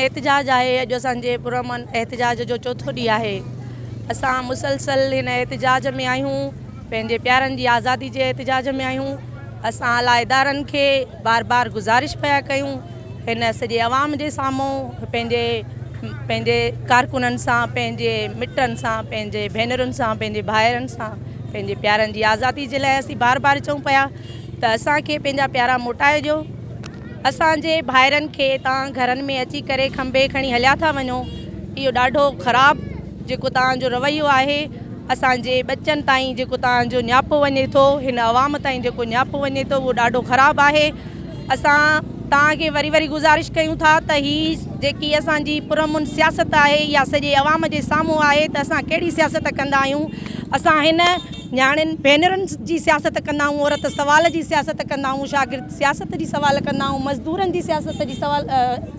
احتجاج آهي اڄ اسان جي پرامن احتجاج جو چوٿو ڏينهن آهي اسان مسلسل هن احتجاج ۾ آهيون پنهنجي پيارن جي آزادي جي احتجاج ۾ آهيون، اسان اعليٰ ادارن کي بار بار گذارش پيا ڪيون، هن سڄي عوام جي سامهون پنهنجي پنهنجي ڪارڪنن سان، پنهنجي مٽن سان، پنهنجي ڀينرن سان، پنهنجي ڀائرن سان، پنهنجي پيارن جي آزادي جي لاء اسين بار بار چئون پيا ته اسان کي پنهنجا پيارا موٽائي ڏيو، اسان جي ڀائرن کي توهان گهرن ۾ اچي ڪري کنڀي کڻي هليا ٿا وڃو، اهو ڏاڍو خراب جيڪو توهان جو رويو آهي، اسان جي ٻچن تائين جيڪو توهان جو نياپو وڃي ٿو هن عوام تائين جيڪو نياپو وڃي ٿو اهو ڏاڍو خراب آهي اسان توهان کي وري وري گذارش ڪيون ٿا ته هي جيڪي اسان جي پرامن سياست آهي يا سڄي عوام جي سامهون آهي ته اسان ڪهڙي سياست ڪندا آهيون اسان هن نياڻين ڀينرن جي سياست ڪندا آهيون عورت سوال جي سياست ڪندا آهيون شاگرد سياست جي سوال ڪندا آهيون مزدورن جي سياست جي سوال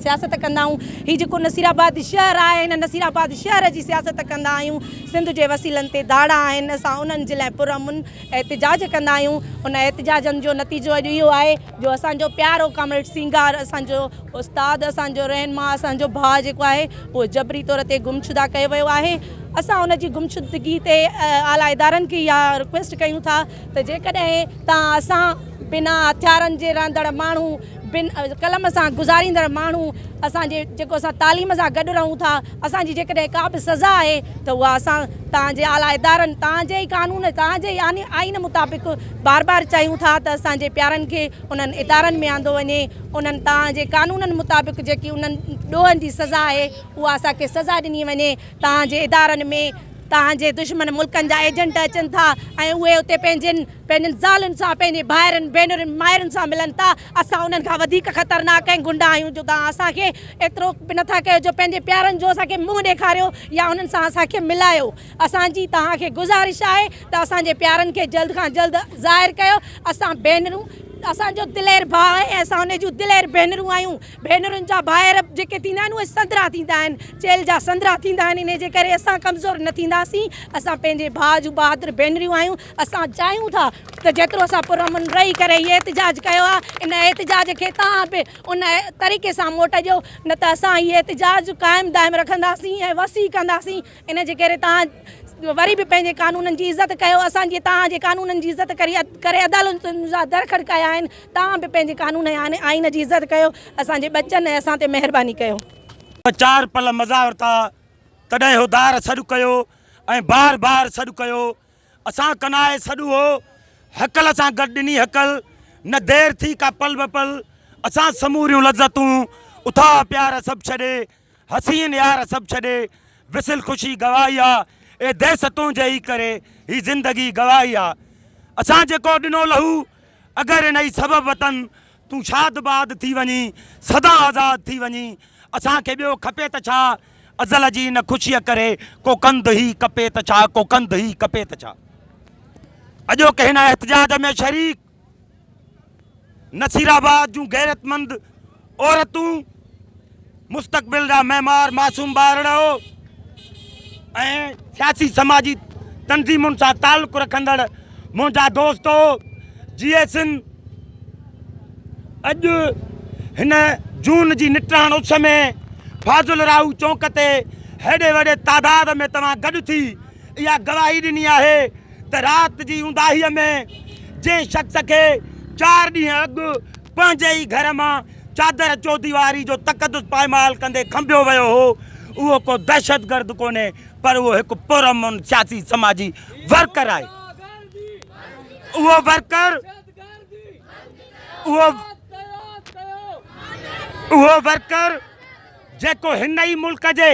سياست ڪندا آهيون هي جيڪو نصير آباد شهر آهي هن نصير آباد شهر جي سياست ڪندا آهيون سنڌ جي وسيلن تي داڙا آهن اسان انهن جي لاء پرامن احتجاج ڪندا آهيون ان احتجاجن جو نتيجو اڄ اهو آهي جو اسان جو پيارو ڪامريڊ سينگار اسان جو استاد اسان جو رهنما اسان جو ڀاء جيڪو آهي اهو جبري طور تي گمشده ڪيو ويو آهي اسان ان جي گمشدگي تي اعليٰ ادارن کي اها رڪويسٽ ڪيون ٿا ته جيڪڏهن تان اسان بنا هٿيارن جي رهندڙ ماڻهو بن قلم سان گذاريندڙ ماڻهو اسان جي جيڪو اسان تعليم سان گڏ رهون ٿا اسان جي جيڪڏهن ڪا به سزا آهي ته اها اسان توهان جي اعليٰ ادارن توهان جي ئي قانون توهان جي ئي آئين مطابق بار بار چاهيون ٿا ته اسان جي پيارن کي انهن ادارن ۾ آندو وڃي انهن توهان جي قانونن مطابق جيڪي انهن ڏوهن جي سزا آهي اها اسان کي سزا ڏني وڃي توهان جي ادارن ۾ توهان جي دشمن ملڪن جا ايجنٽ اچن ٿا ۽ اهي اتي پنهنجين پنهنجن زالن سان، پنهنجي ڀائرن، ڀينرن، مائرن سان ملن ٿا. اسان انهن کان وڌيڪ خطرناڪ ۽ غنڊا آهيون جو توهان اسان کي ايترو به نٿا ڪيو جو پنهنجي پيارن جو اسان کي منهن ڏيکاريو يا انهن سان اسان کي ملايو. اسان جي توهان کي گذارش آهي ته اسان جي پيارن کي جلد کان جلد ظاهر ڪيو. اسان ڀينرون اسان جو دلير ڀاء آهي ۽ اسان انهن جون دلير ڀينرون آهيون. ڀينرن جا ڀائر جيڪي ٿيندا آهن اهي سندرا ٿيندا آهن. چيلهه جا سندرا ٿيندا آهن. انهي جي ڪري اسان ڪمزور نه ٿينداسين. اسان پنهنجي ڀاء جون بهادر ڀينريون آهيون. اسان چاهيون ٿا ته جيترو اسان پرامن رهي ڪري هي احتجاج ڪيو آهي ان احتجاج کي توهان به ان طريقي سان موٽ ڏيو نه ته اسان هي احتجاج قائم دائم رکنداسين ۽ وسيع ڪنداسين ان جي ڪري توهان وري به پنهنجي قانونن جي عزت ڪيو اسان جي توهان جي قانونن جي عزت ڪري ڪري عدالتن جا در کڙڪايا آهن توهان به پنهنجي قانون ۽ آئين جي عزت ڪيو اسان جي ٻچن ۽ اسان تي مهرباني ڪيو چار پل مزا ورتا تڏهن هو دار سڏ ڪيو ۽ بار بار سڏ ڪيو اسان ڪنائي سڏ هو هڪل سان گڏ ڏني هڪل نه دير ٿي ڪا پل به پل اسان سموريون لذتون اٿا پيار سڀ ڇڏي حسين يار سڀ ڇڏي وسل خوشي گواهي آ اي ديس تنهنجي ئي ڪري هي زندگي گواهي آ اسان جيڪو ڏنو لهو اگر انهي سبب وطن تون شاد باد ٿي وڃين سدا آزاد ٿي وڃين اسان کي ٻيو کپي ته ڇا. ازل جي ان خوشيء ڪري ڪو ڪنڌ ئي ڪپي ته ڇا، ڪو ڪنڌ ئي ڪپي ته ڇا. اڄوڪي هن احتجاج ۾ شريڪ نصيرآباد جون غيرتمند عورتون، مستقبل جا معمار معصوم ٻارڙو ۽ سياسي سماجي تنظيمن سان تعلق رکندڙ منهنجا دوستو، جيئسن! اڄ هن جون جي نٽاڻ اس ۾ فاضل راهو چونڪ تي هيڏي وڏي تعداد ۾ توهان گڏ ٿي اها گواهي ڏني آهي ته رات جي اونداهيء ۾ جنهن شخص کي چار ڏينهن اڳ پنهنجي ئي گهر مان چادر چوديواري جو تقدس پائمال ڪندي کنڀيو ويو هو اهو ڪو دهشتگرد ڪونهي پر اهو هڪ پرامن سياسي سماجي ورڪر آهي. اهو ورڪر اهو ورڪر جيڪو هن ئي ملڪ جي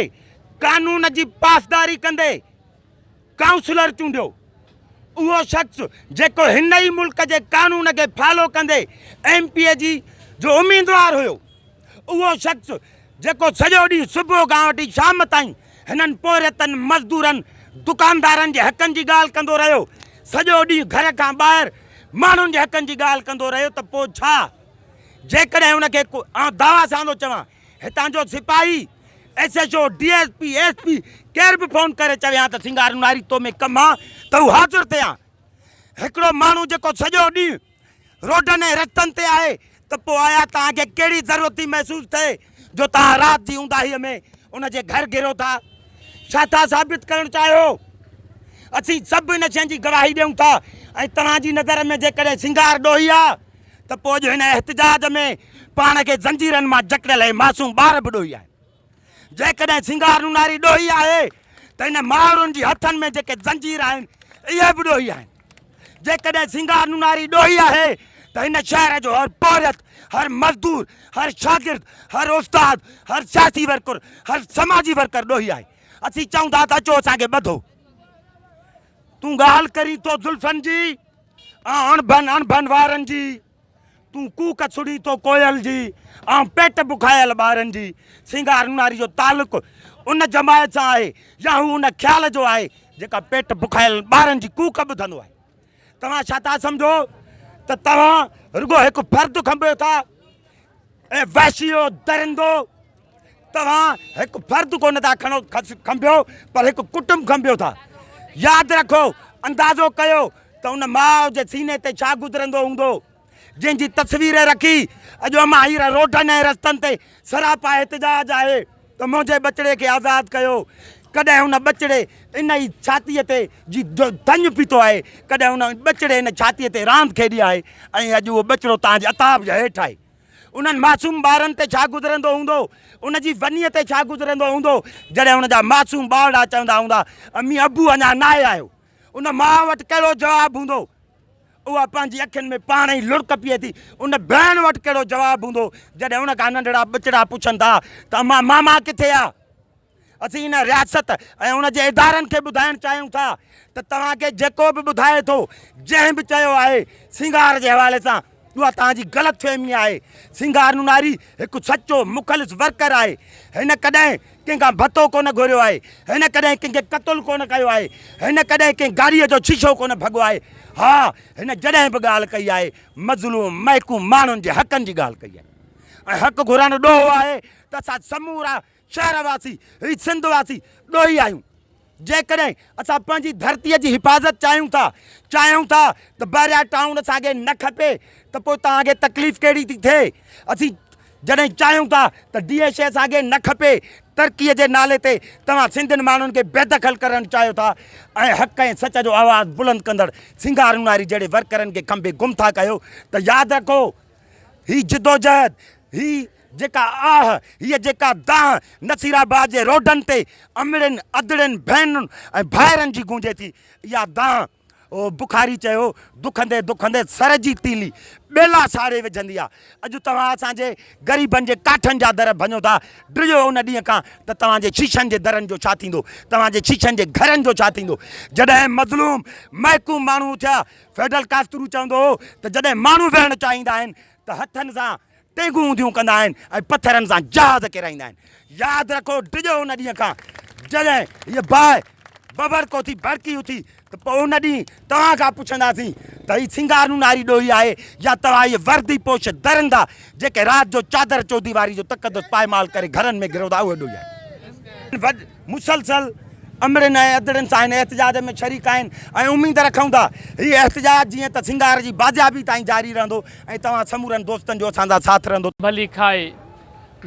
قانون جي پاسداري ڪندي ڪائونسلر چونڊيو اهو شخص جيڪو هن ئي ملڪ جي قانون کي فالو ڪندي ايم پي اي جي جو اميدوار هيو اهو شخص جيڪو سڄو ڏينهن صبح کان وٺي شام تائين هنن پورهيتن، مزدورن، دڪاندارن جي حقن جي ڳالهه ڪندو رهيو، سڄو ڏينهن گهر کان ٻاهر ماڻهن جي حقن جي ڳالهه ڪندو رهيو ته پوء ڇا؟ جيڪڏهن ان کي آئون دعويٰ سان ٿو چوان، هتان جو سپاهي، S H O, D S P, S P ڪير به فون ڪري چوي ها ته سنگارونهاري تو ۾ ڪم ها ته هو حاضر ٿئي ها. هڪڙو ماڻهو جيڪو سڄو ڏينهن. روڊن ۽ رستن تي آهي ته پوء آيا توهان کي ڪهڙي ضرورت ٿي محسوس ٿئي جو توهان رات جي اونداهيء ۾ ان جي گهر گهرو ٿا؟ ڇا ٿا ثابت ڪرڻ چاهيو؟ اسين سڀ ان شيء جي گواهي ڏيون ٿا ۽ توهان جي نظر ۾ جيڪڏهن سينگار ڏوهي آهي ته پوء اڄ هن احتجاج ۾ پاڻ کي زنجيرن مان جڪڙيل هي معصوم ٻار به ڏوهي آهي. جيڪڏهن سنگار نوناري ڏوهي آهي ته ان مائڙن جي هٿن ۾ جيڪي زنجير آهن اهي به ڏوهي آهن جيڪڏهن سنگار نوناري ڏوهي آهي ته هن شهر جو هر پورهيت هر مزدور هر شاگرد هر استاد هر سياسي ورڪر هر سماجي ورڪر ڏوهي آهي اسين چئون ٿا ته اچو اسان کي ٻڌو تون ڳالهه ڪرين ٿو زلفن جي اڻڀن اڻڀن وارن جي تون ڪوڪ سڙي تو ڪوئل جي، آئون پيٽ بکايل ٻارن جي. سينگار نوناري جو تعلق ان جماعت سان آهي يا هو ان خيال جو آهي جيڪا پيٽ بکايل ٻارن جي ڪوڪ ٻڌندو آهي. توهان ڇا ٿا سمجهو ته توهان رڳو هڪ فرد کنڀيو ٿا؟ اي وحشيو درندو! توهان هڪ فرد ڪونه ٿا کڻو کنڀيو پر هڪ ڪٽنب کنڀيو ٿا. ياد رکو، اندازو ڪيو ته ان ماء جي سيني تي ڇا گذرندو هوندو، جنهن جي تصوير رکي اڄ اماهير روڊن ۽ رستن تي سراپا احتجاج آهي ته منهنجي ٻچڙي کي آزاد ڪيو. ڪڏهن ان ٻچڙي ان ئي ڇاتيء تي جي جو ڌڃ پيتو آهي، ڪڏهن ان ٻچڙي ان ڇاتيء تي راند کيڏي آهي ۽ اڄ اهو ٻچڙو توهان جي عتاب جي هيٺ آهي. انهن معصوم ٻارن تي ڇا گذرندو هوندو، ان جي ونيء تي ڇا گذرندو هوندو، جڏهن ان جا معصوم ٻارڙا چوندا هوندا، امي ابو اڃا ناهي آيو. ان ماء وٽ ڪهڙو جواب هوندو؟ اها پنهنجي اکين ۾ پاڻ ئي لڙڪ پيئي ٿي. ان ڀيڻ وٽ ڪهڙو جواب هوندو، جڏهن ان کان ننڍڙا ٻچڙا پڇن ٿا ته امان ماما ڪٿي آ؟ اسين ان رياست ۽ ان جي ادارن کي ٻڌائڻ چاهيون ٿا ته توهان کي جيڪو به ٻڌائي ٿو، جنهن به چيو آهي سينگار جي حوالي سان، اها توهان جي غلط فهمي آهي. سينگار نوناري هڪ سچو مخلص ورڪر آهي. هن ڪڏهن ڪنهن کان ڀتو ڪونه گهريو آهي. هن ڪڏهن ڪنهن کي قتل ڪونه ڪيو آهي. هن ڪڏهن ڪنهن گاڏيء جو شيشو ڪونه ڀڳو آهي. ها، هن جڏهن به ڳالهه ڪئي آهي، مظلوم محڪوم ماڻهن جي حقن جي ڳالهه ڪئي آهي ۽ حق گهرڻ ڏوهه آهي ته اسان سمورا شهر واسي هي سنڌ واسي ڏوهي آهيون جيڪڏهن اسان پنهنجي ڌرتي جي حفاظت چاهيون ٿا چاهيون ٿا ته بحريا ٽائون اسان کي نه کپي ته پوء توهان کي تڪليف ڪهڙي ٿي ٿئي اسين جڏهن چاهيون ٿا ته ڊي ايش اي اسان کي نه کپي ترقي جي نالي تي توهان سنڌين ماڻهن کي بيدخل ڪرڻ چاهيو ٿا ۽ حق ۽ سچ جو آواز بلند ڪندڙ سنگار اونهاري جهڙي ورڪرن کي کنڀي گم ٿا ڪيو ته ياد رکو هي جدوجهد هي جيڪا آهه، هيء جيڪا دانهن نصيرآباد جي روڊن تي امڙين ادڙين ڀينرن ۽ ڀائرن جي گونجي ٿي، اها دانهن، بخاري چيو، دکندي دکندي سر جي تيلي ٻيلا ساڙي وجهندي آهي. اڄ توهان اسان جي غريبن جي ڪاٺن جا در ڀڃو ٿا، ڊڄو ان ڏينهن کان ته توهان جي شيشن جي درن جو ڇا ٿيندو؟ توهان جي شيشن جي گهرن جو ڇا ٿيندو؟ جڏهن مظلوم، محڪوم ماڻهو اٿيا، فيڊل ڪاسترو چوندو هو ته جڏهن ماڻهو ويهڻ چاهيندا آهن ته هٿن سان ٽينگون اونڌيون ڪندا آهن ۽ پٿرن سان جهاز ڪيرائيندا آهن. ياد رکو ڊڄو ان ڏينهن کان جڏهن هيء باهه ببر ڪو ٿي ڀڙڪي اٿي ته پوء ان ڏينهن توهان کان پڇنداسين ته هي سينگار نوناري ڏوهي آهي يا توهان اهي وردي پوش درندا جيڪي رات جو چادر چوديواري جو تقدس پائمال ڪري گهرن ۾ گهرو ٿا اهو ڏوهي آهي. مسلسل امڙين ۽ ادڙين سان هن احتجاج ۾ شريڪ آهن ۽ اميد رکون ٿا هي احتجاج جيئن ته سنگهار جي بازيابي تائين جاري رهندو ۽ توهان سمورن دوستن جو اسان سان ساٿ رهندو. ڀلي کائي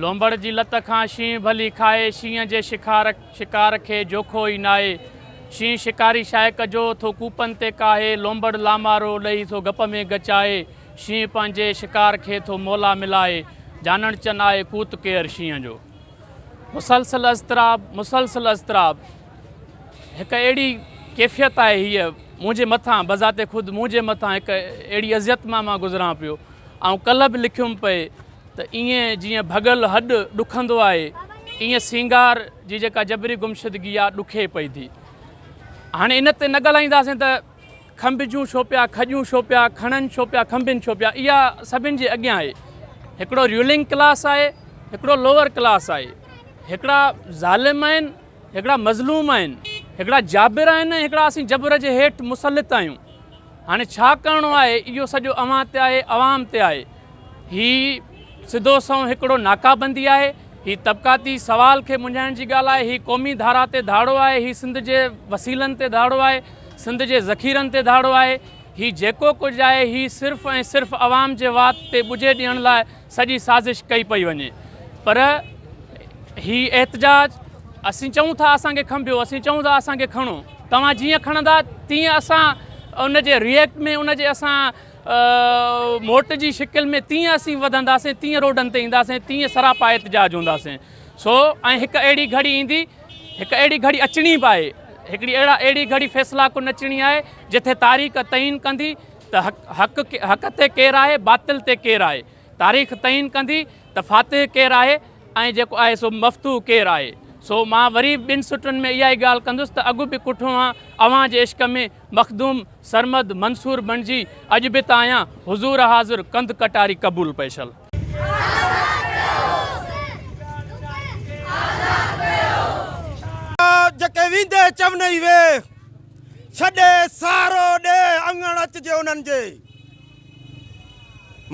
لونبڙ جي لت کان شينهن ڀلي کائي شينهن جي شکار شڪار کي جوکو ئي ناهي شينهن شڪاري شاهي ڪجو ٿو ڪوپن تي ڪاهي لونبڙ لامارو ڏئي ٿو گپ ۾ ڳچ آهي شينهن پنهنجي شڪار کي ٿو مولا ملائي جانڻ چن آهي ڪوت ڪير شينهن جو مسلسل اضطراب مسلسل اضطراب هڪ اهڙي ڪيفيت آهي هيء منهنجي مٿان بذات خود منهنجي مٿان هڪ اهڙي اذيت مان مان گذران پيو آئون ڪلهه به لکيم پئي ته ائين جيئن ڀڳل هڏ ڏکندو آهي ائين سينگار جي جيڪا جبري گمشدگي آهي ڏکي پئي ٿي هاڻي ان تي نه ڳالهائينداسين ته کنڀ جون ڇو پيا کڄون ڇو پيا کڻن ڇو پيا کنڀين ڇو پيا اها سڀن جي اڳيان آهي هڪڙو ريولنگ ڪلاس آهي هڪڙو لوور ڪلاس آهي هڪڙا ظالم آهن هڪڙا مظلوم آهن هڪڙا جابر آهن ۽ هڪڙا اسين جبر جي هيٺ مسلط آهيون هاڻي ڇا ڪرڻو آهي اهو سڄو اوهان تي آهي عوام تي آهي هي سڌو سنئون هڪڙو ناڪابندي آهي هي طبقاتي سوال کي منجهائڻ جي ڳالهه آهي، هي قومي ڌارا تي ڌاڙو آهي، هي سنڌ جي وسيلن تي ڌاڙو آهي، سنڌ جي ذخيرن تي ڌاڙو آهي، هي جيڪو ڪجهه آهي هي صرف ۽ صرف عوام جي وات تي ٻجهي ڏيڻ لاء سڄي سازش ڪئي پئي وڃي پر هي احتجاج اسين چئون ٿا اسان کي کنڀيو اسين چئون ٿا اسان کي کڻو توهان جيئن کڻندا تيئن اسان ان جي ريئڪٽ ۾ ان جي اسان موٽ جي شڪل ۾ تيئن اسين وڌنداسين تيئن روڊن تي اينداسين تيئن سراپا احتجاج هونداسين سو ۽ هڪ اهڙي گهڙي ايندي هڪ اهڙي گهڙي اچڻي به آهي هڪڙي اهڙا اهڙي گهڙي فيصلا ڪن اچڻي آهي جتي تاريخ تعين ڪندي ته حق حق حق تي ڪير آهي باطل تي ڪير آهي تاريخ تعين ڪندي ته فاتح ڪير آهي ۽ جيڪو آهي سو مفتو ڪير آهي سو مان وري ٻن سٽن ۾ اها ئي ڳالهه ڪندس ته اڳ به ڪٺو هان اوهان جي عشق ۾ مخدوم سرمد منصور بڻجي اڄ به ته آهيان حضور حاضر ڪنڌ ڪٽاري قبول پيشل. جيڪي ويندي چونئي وي ڇڏي سارو ڏي اڱڻ اچجي انهن جي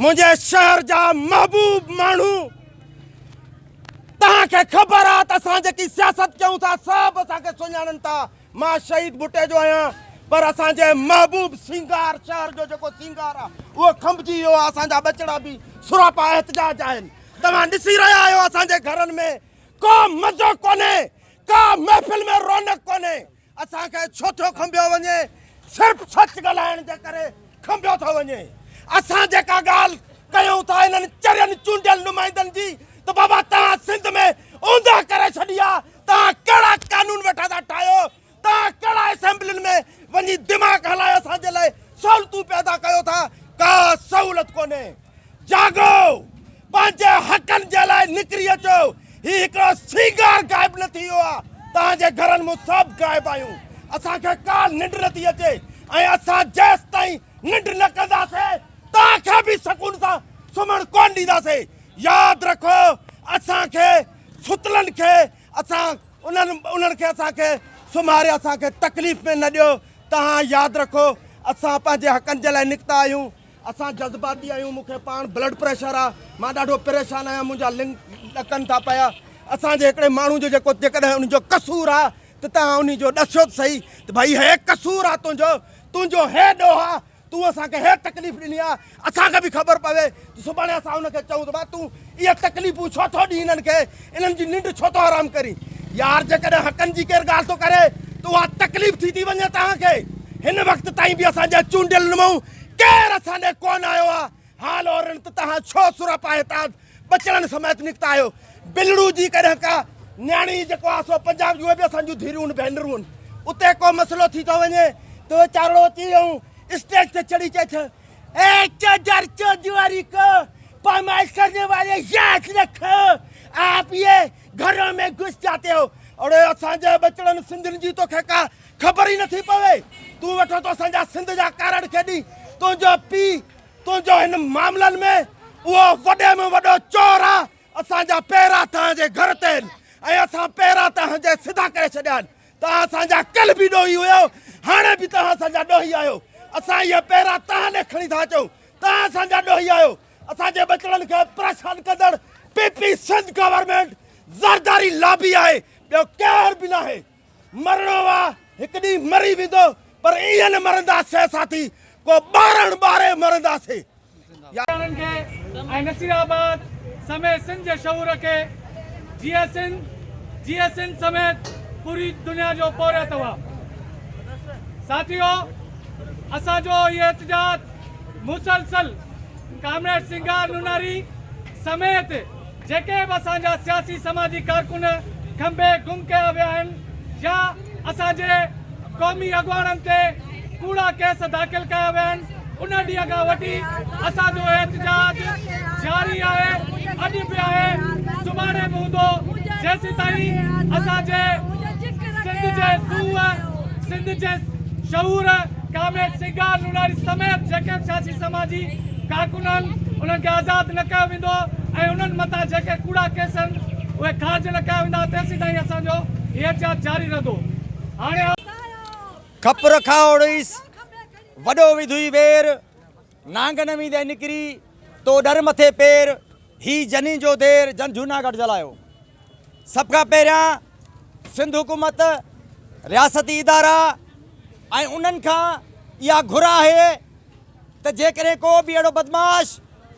منهنجي شهر جا محبوب ماڻهو توهان کي خبر آ ته اسان جيڪي سياست ڪيون ٿا سڀ اسان کي سڃاڻن ٿا مان شهيد ڀٽي جو آهيان پر اسان جي محبوب سينگار شهر جو جيڪو سينگار آهي اهو کنڀجي ويو آهي اسان جا ٻچڙا به سراپا احتجاج آهن توهان ڏسي رهيا آهيو اسان جي گهرن ۾ ڪو مزو ڪونهي ڪا محفل ۾ رونق ڪونهي اسان کي ڇو ٿو کنڀيو وڃي صرف سچ ڳالهائڻ جي ڪري کنڀيو ٿو وڃي اسان جيڪا ڳالهه ڪيون ٿا انهن چرين چونڊيل نمائندن جي ته بابا توهان سنڌ ۾ اوندهه ڪري ڇڏي آ توهان ڪهڙا قانون ويٺا ٿا ٺاهيو توهان ڪهڙا اسيمبلين ۾ وڃي دماغ هلايو اسان جي لاء سهولتون پيدا ڪيو ٿا ڪا سهولت ڪونهي جاڳو! پنهنجي حقن جي لاء نڪري اچو! هي هڪڙو سينگار غائب نه ٿي ويو آهي، توهان جي گهرن مان سڀ غائب آهيون، اسان کي ڪا ننڊ نه ٿي اچي ۽ اسان جيستائين ننڊ نه ڪنداسين، توهان کي به سڪون سان سمهڻ ڪونه ڏينداسين. ياد رکو! اسان کي ستلن کي اسان انهن کي اسان کي سمهاري اسان کي تڪليف ۾ نه ڏيو، توهان ياد رکو! اسان پنهنجي حقن جي لاء نڪتا آهيون، اسان جذباتي آهيون، مون کي پاڻ بلڊ پريشر آ، مان ڏاڍو پريشان آهيان، منهنجا لنگ ڏڪن ٿا پيا، اسان جي هڪڙي ماڻهو جو جيڪو جيڪڏهن ان جو قصور آ ته توهان انهي جو ڏسيو ته سهي ته ڀائي هي قصور آ تنهنجو، تنهنجو هي ڏوهه آ، تون اسان کي هي تڪليف ڏني آ، اسان کي به خبر پوي ته سڀاڻي اسان ان کي چئون ته ڀاء تون اهي تڪليفون ڇو ٿو ڏين انهن کي، انهن جي ننڊ ڇو ٿو حرام ڪرين، يار جيڪڏهن حقن جي ڪير ڳالهه ٿو ڪري ته اها تڪليف ٿي ٿي وڃي توهان کي، هن وقت تائين به اسان جا چونڊيل نمائون ڪير اسان ڏي ڪونه آيو آ. حال اورن ته تهان ڇو سرهه پاهي تاد ٻچڙن سميت نڪتا آهيو. بلڙو جي ڪڏهن ڪا نياڻي جيڪو آ سو پنجاب جون اهي به اسان جون ڌيئرون ان ڀينرون ان. اتي ڪو مسئلو ٿي ٿو وڃي ته ويچارڙو اچي ائون اسٽيج تي چڙهي چئي ٿو اي چوڌر چوڌواري ڪو پامائش ڪرني والي ياد رکو آپ يي گهرون مين گهس جاتي هو. اڙي اسان جي ٻچڙن سنڌين جي توکي ڪا خبر ئي نٿي پوي تون ويٺو ٿو اسان جا سنڌ جا ڪارڙ کيڏين تنهنجو پي تنهنجو هن معاملن ۾ اهو وڏي ۾ وڏو چور آ اسان جا پيرا تنهن جي گهر تي آهن ۽ اسان پيرا تنهن جي سڌا ڪري ڇڏيا آهن تنهن اسان جا ڪل به ڏوهي هيو هاڻي به تنهن اسان جا ڏوهي آهيو اسان اهي پيرا تنهن ڏي کڻي ٿا اچون تنهن اسان جا ڏوهي آهيو اسان جي ٻچڙن کي پريشان ڪندڙ P P Sindh government Zardari lobby آهي ٻيو ڪير به ناهي مرڻو آ هڪ ڏينهن مري ويندو پر ائين نه مرنداسين ساٿي ڪو ٻارڻ ٻاري مرنداسين. ڪسانن کي ۽ نصير آباد سميت سنڌ جي شعور کي جيئي سنڌ جيئي سنڌ سميت پوري دنيا جو پورهيت هئا ساٿيو اسان جو هي احتجاج مسلسل ڪامريڊ سنگار نوناري سميت جيڪي به اسان جا سياسي سماجي ڪارڪن کنڀي گم ڪيا ويا آهن يا اسان جي قومي اڳواڻن تي ڪوڙا ڪيس داخل ڪيا ويا آهن ان ڏينهن کان وٺي اسان جو احتجاج جاري آهي اڄ به آهي سڀاڻي به هوندو جيسيتائين اسان جي سنڌ جي سوء سنڌ جي شعور ڪامريڊ سنگار نوناري سميت جيڪي به سياسي سماجي ڪارڪن آهن انهن کي آزاد نه ڪيو ويندو ۽ انهن مٿان جيڪي ڪوڙا ڪيس آهن اهي خارج نه ڪيا ويندا تيسيتائين اسان جو هي احتجاج جاري رهندو هاڻي کپر کان اوڙيس وڏو وڌوئي وير نانگ نوي دي نڪري، تو ڏر مٿي پير، هي جني جو دير، جن جهوناڳڙهه جلايو. سڀ کان پهريان سنڌ حڪومت، رياستي ادارا ۽ انهن کان اها گهر آهي ته جيڪڏهن ڪو به اهڙو بدمعاش،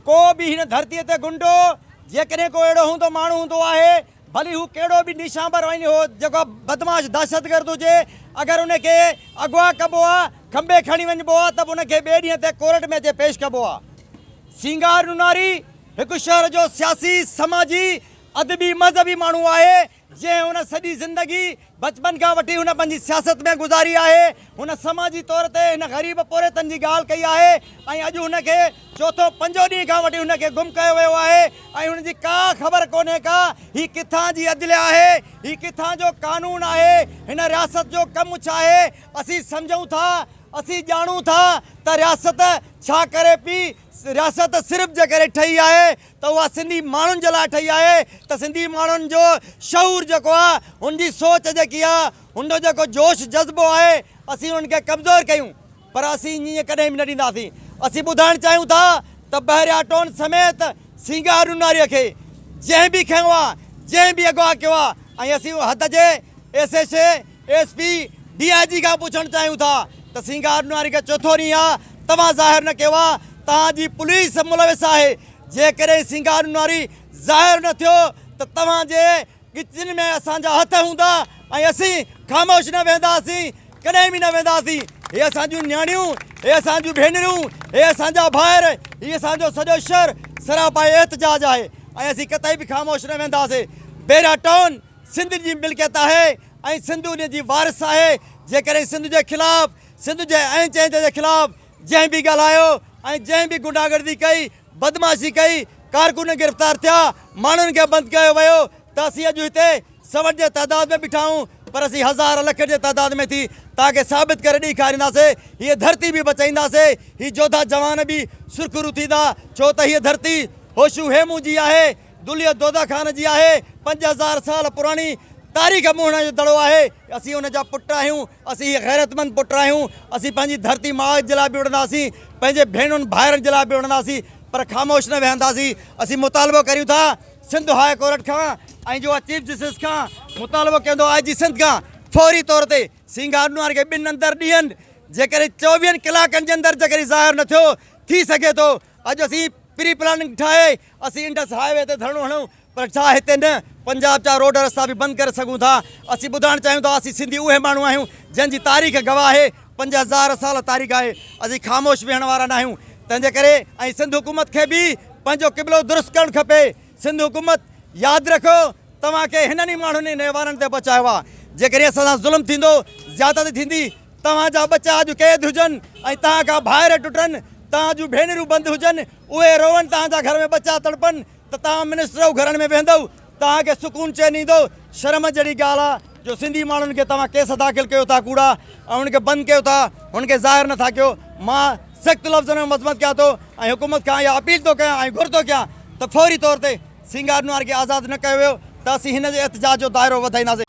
ڪو به هن ڌرتيء تي غنڊو، جيڪڏهن ڪو اهڙو هوندو ماڻهو هوندو آهي، ڀلي هو ڪهڙو به نيشان به روئين هو جيڪو بدمعاش دهشتگرد هجي اگر ان کي اغوا ڪبو آ کنڀي کڻي وڃبو آ ته به ان کي ٻئي ڏينهن تي ڪورٽ ۾ اچي پيش ڪبو آ سينگار نوناري هڪ شهر جو سياسي سماجي ادبي مذهبي ماڻهو آهي جنهن ان سڄي زندگي بچپن کان وٺي هن پنهنجي سياست ۾ گذاري آهي. هن سماجي طور تي هن غريب پورهيتن جي ڳالهه ڪئي آهي ۽ اڄ هن کي چوٿون پنجون ڏينهن کان وٺي هن کي گم ڪيو ويو آهي ۽ هن جي ڪا خبر ڪونهي ڪا هي ڪٿان جي عدليه آهي هي ڪٿان جو قانون آهي هن رياست جو ڪم ڇا آهي اسين سمجهون ٿا اسين ڄاڻون ٿا ته رياست ڇا ڪري پي رياست صرف جي ڪري ٺهي آهي ته اها سنڌي ماڻهن جي لاء ٺهي آهي ته سنڌي ماڻهن جو شعور جيڪو آهي هن جي سوچ جيڪي آهي هن جو جيڪو جوش جذبو آهي اسين انهن کي ڪمزور ڪيون پر اسين ائين ڪڏهن به نه ڏينداسين اسين ٻڌائڻ چاهيون ٿا ته بحريا ٽون سميت سينگار روناري کي جنهن به کنيو آهي جنهن به اغوا ڪيو آهي ۽ اسين حد جي S S A S P D I G کان پڇڻ چاهيون ٿا ته سينگار نواري کي چوٿون ڏينهن آ توهان ظاهر نه ڪيو آ توهان جي پوليس ملوث آهي جيڪڏهن سينگار نواري ظاهر نه ٿيو ته توهان جي ڳچين ۾ اسان جا هٿ هوندا ۽ اسين خاموش نه ويهنداسين ڪڏهن به نه ويهنداسين هي اسان جون نياڻيون هي اسان جون ڀينرون هي اسان جا ڀائر هي اسان جو سڄو شهر سراپا احتجاج آهي ۽ اسين ڪتئي به خاموش نه ويهنداسين بيرا ٽائون سنڌ جي ملڪيت آهي ۽ سنڌ ان جي وارث آهي، جيڪڏهن سنڌ جي خلاف، سنڌ جي اين چهندي جي خلاف جنهن به ڳالهايو ۽ جنهن به غنڊا گردي ڪئي، بدمعاشي ڪئي، ڪارڪن گرفتار ٿيا، ماڻهن کي بند ڪيو ويو ته اسين اڄ هتي سوٽ جي تعداد ۾ بيٺا آهيون پر اسين هزار لک جي تعداد ۾ ٿي توهان کي ثابت ڪري ڏيکارينداسي هيء ڌرتي به بچائينداسي هي جوڌا جوان به سرخرو ٿيندا ڇو ته هيء ڌرتي هوشو هيمون جي آهي دليء دودا خان جي آهي. پنج هزار سال پراڻي تاريخ موهڻ جو دڙو آهي. اسين ان جا پٽ آهيون. اسين هي غيرتمند پٽ آهيون. اسين پنهنجي ڌرتي ماء جي لاء به وڙهنداسين. پنهنجي ڀيڻن ڀائرن جي لاء به وڙهنداسين. پر خاموش نه ويهنداسين. اسين مطالبو ڪريون ٿا سنڌ هاء ڪورٽ کان ۽ جوها چيف جسٽس کان. مطالبو ڪيون ٿو آء جي سنڌ کان فوري طور تي سينگارنوان کي ٻن اندر ڏينهن جيڪڏهن چوويهن ڪلاڪن جي اندر جيڪڏهن ظاهر نه ٿيو ٿي سگهي ٿو اڄ اسين پري پلاننگ ٺاهي اسين انڊس هاء وي تي ڌرڻو هڻون پر ڇا هتي نه پنجاب جا روڊ رستا به بند ڪري سگهون ٿا؟ اسين ٻڌائڻ چاهيون ٿا اسين سنڌي اهي ماڻهو آهيون جن جي تاريخ گواهه آهي پنج هزار سال تاريخ آهي اسين خاموش ويهڻ وارا ناهيون تنهنجي ڪري ۽ سنڌ حڪومت کي به پنهنجو قبلو درست ڪرڻ کپي. سنڌ حڪومت ياد رکو توهان کي هنن ئي ماڻهن ۽ نهوارن تي بچايو آهي جيڪڏهن اسان سان ظلم ٿيندو زيادتي ٿيندي توهان جا ٻچا اڄ قيد هجن ۽ توهان کان ڀائر ٽٽن توهان جون ڀينرون بند هجن اهي روئن توهان جا گهر ۾ ٻچا تڙپن ته توهان منسٽرو گهرن ۾ ويهندؤ توهان کي سڪون چين ايندو شرم جهڙي ڳالهه آهي. جو سنڌي ماڻهن کي توهان ڪيس داخل ڪيو ٿا ڪوڙا ۽ هن کي بند ڪيو ٿا هن کي ظاهر نٿا ڪيو مان سخت لفظن ۾ مذمت ڪيان ٿو ۽ حڪومت کان اها اپيل ٿو ڪيان ۽ گهر ٿو ڪيان ته فوري طور تي سينگار نوار کي آزاد نه ڪيو ويو ته اسين هن جي احتجاج جو دائرو وڌائينداسين.